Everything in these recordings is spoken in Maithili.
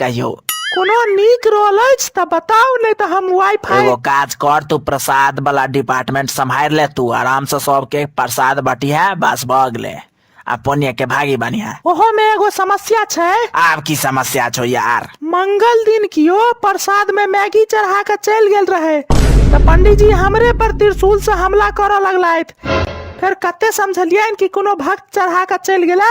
कहियो कोनो नीक रोल अछि तऽ बताउ नहि तऽ हम वाईफाई एगो काज कर तू प्रसाद वाला डिपार्टमेंट सम्हार ले तू आराम से सबके प्रसाद बटिहा बस भऽ गेले आ पुण्य के भागी बनिहा ओहो में एगो समस्या छै आब की समस्या छौ यार मंगल दिन कियो प्रसाद में मैगी चढ़ा के चल गेल रहे तऽ पंडीजी हमरे पर त्रिशूल से हमला करऽ लगलथि फेर कते समझलियनि कि कोनो भक्त चढ़ा के चल गेला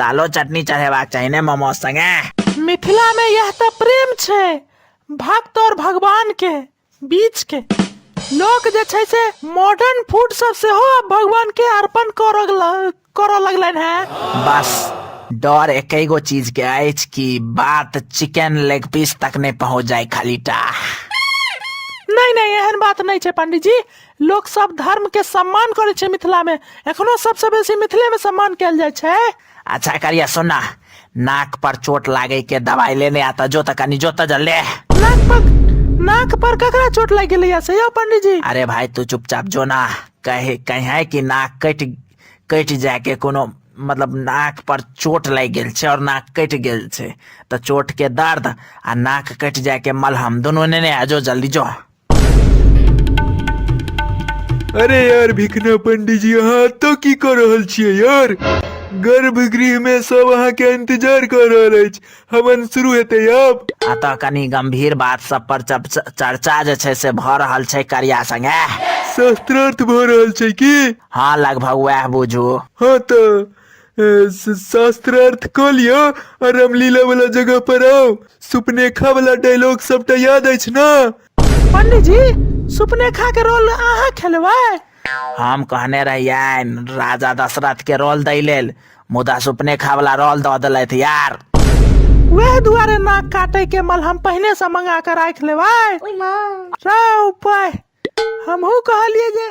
लालो चटनी चढ़ेबाक चाही ने मोमोज संगे मिथिला में यह तो प्रेम छे भक्त और भगवान के बीच के लोक जे छै से मॉडर्न फूड सब से हो भगवान के अर्पण करऽ लगल- करऽ लगलन है बस डर एक गो चीज के अछि कि बात चिकन लेग पीस तक नहीं पहुंच जाए खाली टा नहीं नहीं एहन बात नहीं छे पंडित जी लोक सब धर्म के सम्मान करे छै मिथिला में एखनो सबसे बेसी मिथिले में सम्मान कैल जाय छै अच्छा करिया सुना नाक पर चोट लागे के दवाई लेने आता जो तक कनी जो तक ले नाक पर नाक पर ककरा चोट लग गेलै या से यौ पंडित जी अरे भाई तू चुपचाप जो ना कहे कहे कि नाक कट कट जाए के कोनो मतलब नाक पर चोट लागि गेल छै और नाक कटि गेल छै तऽ चोट के दर्द आ नाक कटि जाए के मलहम दुनू नेने आ जो जल्दी जो अरे यार भिकना पंडित जी अहाँ एतऽ की कऽ रहल छियै यार गर्भगृह मे सब अहाँ के इंतजार कऽ रहल अछि हवन शुरू हेतै आब अतः कनी गंभीर बात सब पर चप- च- चर्चा जे छै से भऽ रहल छै करिया संगे शास्त्रार्थ भऽ रहल छै की हँ लगभग वएह बुझू हँ तऽ शास्त्रार्थ कऽ लिअ आ रामलीला वाला जगह पर आउ सुपनेखा वाला डायलॉग सबटा याद अछि ने पंडीजी सुपनेखा के रोल अहाँ खेलबै हम कहने रहियन राजा दशरथ के रोल दै लेल मुदा सुपनेखा वाला रोल दऽ देलथि यार वएह दुआरे नाक काटे के मलहम पहिने से मंगा के राख लेबै रे उपाय हमहू कहलिए जे